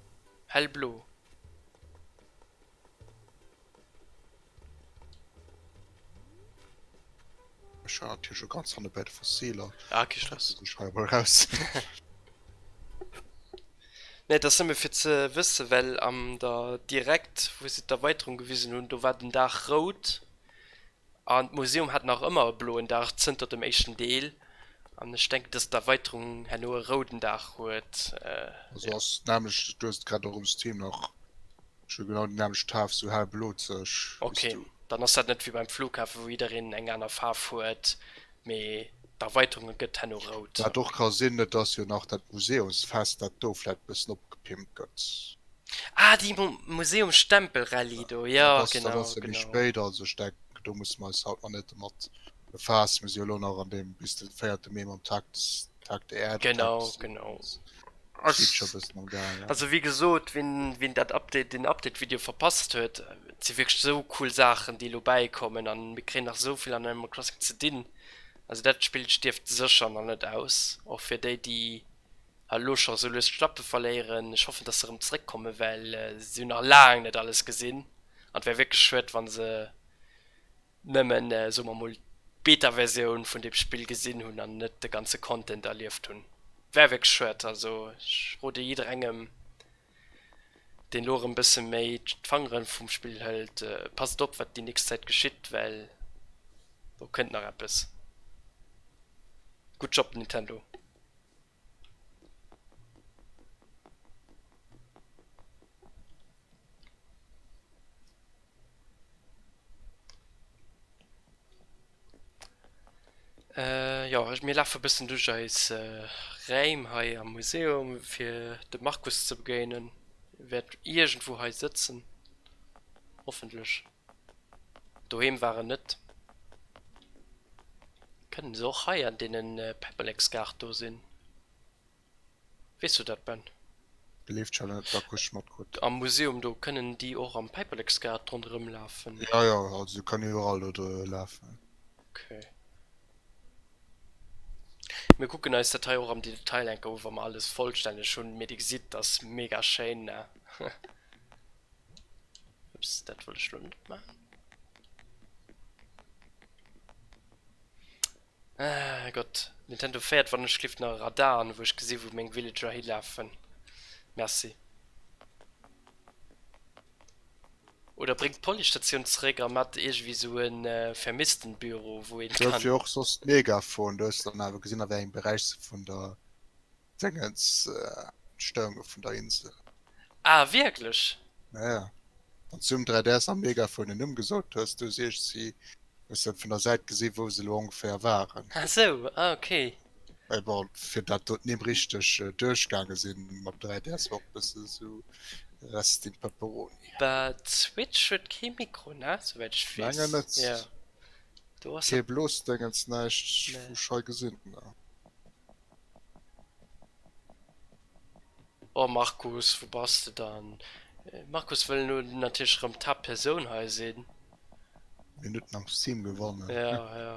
Hellblo. Ech hat hier schon ganz hanne bei de Fossiler. Ah, okay, Stress. Ich schreibe mal raus. ne, das nëmme fir ze wësse, well am der direkt, wou se d'Erweiterung gewisen hunn, do war den Daach rout. An d'Museum hat nach ëmmer e bloen Daach zënter dem éischten Deel. An ech denken, dass d'Erweiterung herno e rouden Daach huet, Esou ass et nämlech, du hues et grad och um Stream nach, scho genau déi nämlecht Faarf, sou hellblozeg wéi s du. Ok, dann ass dat net wéi beim Flughafen, wou jiddereen eng aner Faarf huet. Mee d'Erweiterunge gëtt henno rout. Wat och ka sinn, et ass jo nach dat Museumsfest, dat do vläit e bëssen opgepimpt gëtt. Ah, déi Museumsstempelrallye do, jo genau. Dat ass jo méi spéit, also ech denken, do musse mer eis haut nach net domat befaassen. Mir si jo elo nach an deem bis de véierte Mee mam Taktstopp. Takt Erd, genau Takt genau also wie gesot wien wien dat update den update video verpasst huet ze wirklich so cool sachen die lo beikommen an mir kre nach soviel an einem klassik ze dinn also dat spiel stift secher man net aus och fir déi die hallo schon so lös schlappe verléieren ich hoffen dass darum zurückkomme well äh, sie nach laang net alles gesinn an wär wirklich schwet wann se nëmmen, soe mer mol, d'Beta-Versioun vun deem Spill gesinn hunn an net de ganze Content erlieft hunn. Wär wierklech schued. Also ech rode jidderengem, deen elo erëm e bësse méi d'Fangere vum Spill hëlt, passt op, wat déi nächst Zäit geschitt, well do kënnt nach eppes. Good job Nintendo! Äh, jo, mir lafe bëssen duerch eis äh, Räim hei am Museum, fir de Markus ze begéinen. E wäert iergendwou hei sëtzen, hoffentlech. Doheem war en net. Kënnen se och hei an deenen Peppeleksgaart do sinn? Weess du dat Ben? Leeft schon net, da krus mat krut. Am Museum do, kënnen déi och am Päppeleksgaart ronderëm lafen? Jo jo, also se kënnen iwwerall do dru lafen. Ok. Mir kucken eis dat hei och am Detail enker u wa mer alles vollstänneg hunn, mee dir gesitt, ass mega schéin ne? Ups, dat wollt ech lo net maachen. Ah Gott, Nintendo fäert wann ech schlift nach e Radar an wou ech gesinn wou meng Villager hilafen. Merci. Oder bréngt d'Policestatioun zeréck a maacht iergendwéi sou e Vermisstenbüro wou een kann. Gouf jo och soss mega froen, do hues de dann awer gesinn a wéi engem Beräich se vun der Déngens, d'Stéierunge vun der Insel. Ah wierklech? Ja ja, wanns du um 3DS am Megaphone en Numm gesot hues, du si ech si bessen vun der Säit gesin wou se lo ongeféier waren. Ah sou, ah ok. Mais bon, fir dat do d'Nimm richteg duerchgaange sin mam 3DS war och bessen sou rest in pepperoni. Bah d'Switch huet kee Mikro ne? Souwäit ech wees. Mengen net. Jo do ass. Kee Blosdéngens, näischt vu schei gesin. Oh Markus, wou bass de dann? Markus wëll elo natierlech erëm d'Haapt Persoun hei sinn. Mir net mam System gewannen. Ja, ja.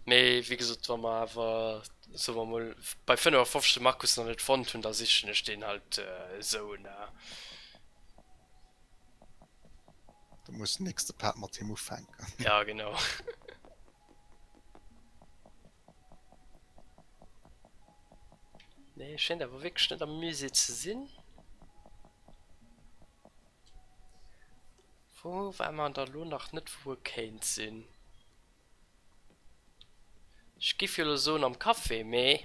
Mee wéi gesot, wa mer awer, soe mer emol, bei 55 de Markus nach net fonnt hunn, da sichen ech deen halt esou na. Da muss den nächste Part mat him ufänken. Ja, genau. Nee, et schéint awer wierklech net am Musée ze sinn. Wou war mer da lo nach net, wou e kéint sinn? Ech géif jo elo soen am Café, mee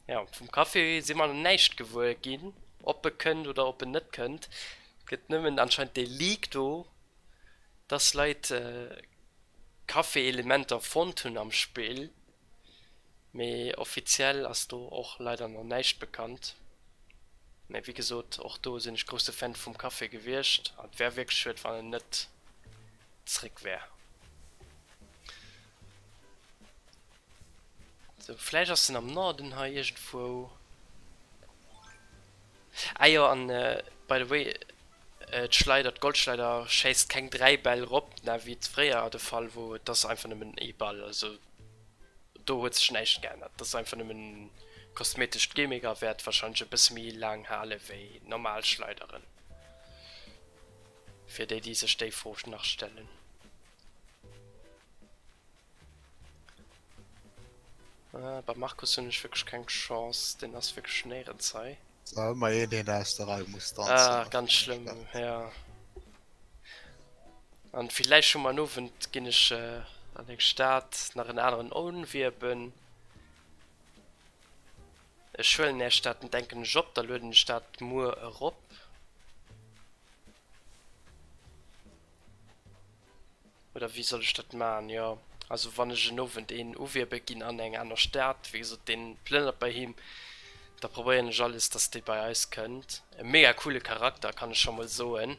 jo, vum Café si mer näischt gewuer ginn. Ob e kënnt oder ob en net kënnt. Et gëtt nëmmen anscheinend dee Leak do, dass Leit Café-Elementer fonnt hunn am Spill, mee offiziell ass do och leider nach näischt bekannt. Mee wéi gesot, och do sinn ech grousse Fan vum Café gewiescht an et wär wierklech schued, wann en net zréck wär. Sou, vläicht ass en am Norden hei iergendwou. Ah jo, an by the way, d'Schleider, d'Golschleider schéisst keng 3 Bäll rop, na wéi et fréier de Fall wor, et ass einfach nëmmen ee Ball, also do huet sech näischt geännert, dat ass einfach nëmmen kosmetescht Gimmick a wäert wahrscheinlech e bësse méi laang hale wéi normal Schleideren, fir déi déi sech déi Fro nach stellen. Äh beim Markus hunn ech wierklech keng Chance, deen ass wierklech néierens hei. Wa ëmmer een een aus der Rei muss tanzen, ass Ah, ganz dat schlëmm, gespaant. ja. An villäicht hu mer en Owend, ginn ech an eng Stad, nach en aneren Onwieben. Ech huelen är Stad en, denken ech, op, da lueden ech dat muer erop. Oder wéi soll ech dat maachen? Jo, also wann ech en Owend een uwierbe ginn an eng aner Stad, wéi gesot, deen plënnert bei him, da probéieren ech alles, dass dee bei eis kënnt. E mega coole Charakter, kann ech scho mol soen,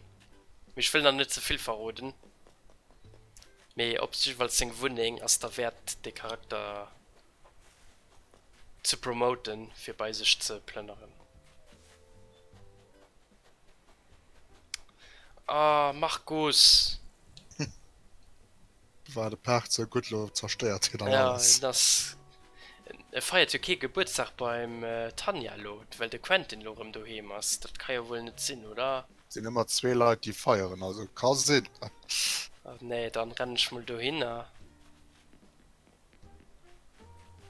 mee ech wëll nach net ze vill verroden. Mee op jiddefalls seng Wunneng ass derwäert, dee Charakter ze promoten, fir bei sech ze plënneren. Ah Markus! War de Paart sou gutt, lo zerstéiert hien dann alles. Ja, et ass. Et feiert jo kee Gebuertsdag beim Tanja lo, well de Quentin lo erëm doheem ass. Dat ka jo wuel net sinn, oder? Sinn ëmmer zwee Leit, déi feieren, also et ka sinn. Ah nee, dann rennen ech mol dohinner.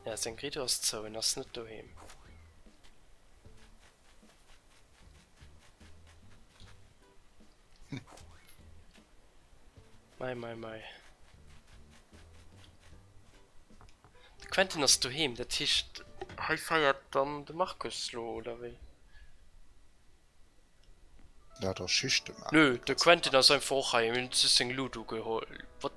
Ja, seng Rideau ass zou, en ass net doheem. Mei, mei, mei. De Quentin ass doheem, dat heescht, hei feiert dann de Markus lo, oder wéi? Ja, der Schicht de Markus. Nö, de Quentin ass einfach och hei, mir hunn just seng Loot ugeholl. What?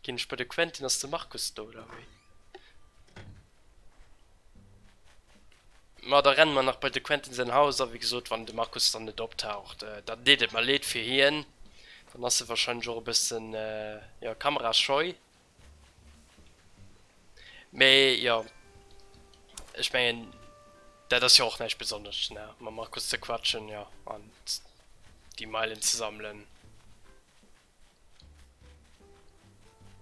Ginn ech bei de Quentin, ass de Markus do, oder wéi? Ma da renne mer nach bei de Quentin säin Haus a wéi gesot, wann de Markus dann net optaucht, dann deet et mer leed fir hien. Dann ass e wahrscheinlech och e bësse jo kamerascheu. Mee jo, ech mengen dat ass jo och näischt Besonnesches ne, mam Markus ze quatschen, jo an déi Meilen ze sammelen.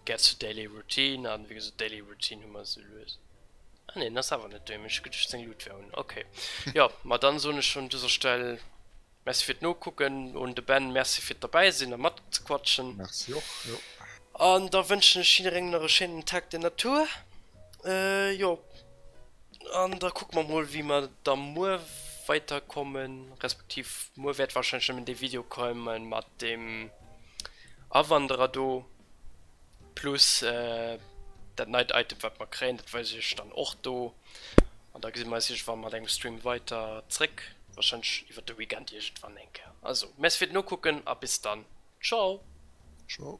Get to daily routine an wéi gesot daily routine hu mer se lues. Ah nee, das awer net dem gedcht seng Lut wär un okay ja ma dann soen ech schon dëser Stell merci fir d'Nokucken un de Ben merci fir d'derbäi sinn a mat ze quatschen. Merci och jo. An da wënschen ech jidderengem nach e schéinen Tag der Natur. Jo an da kuck mer mol wéi mer da muer weiter kommen respektiv muer wäert wahrscheinlech nëmmen dee Video komme mat dem Awanderer do plus dat neit Item wat mer kréien, dat weise ech dann och do an da gesi mer eis iergendwann mat engem Stream weiter zréck, wahrscheinlech iwwer de Weekend iergendwann eng Kéier. Also Merci fir d'Nokucken a bis dann, Ciao. Ciao.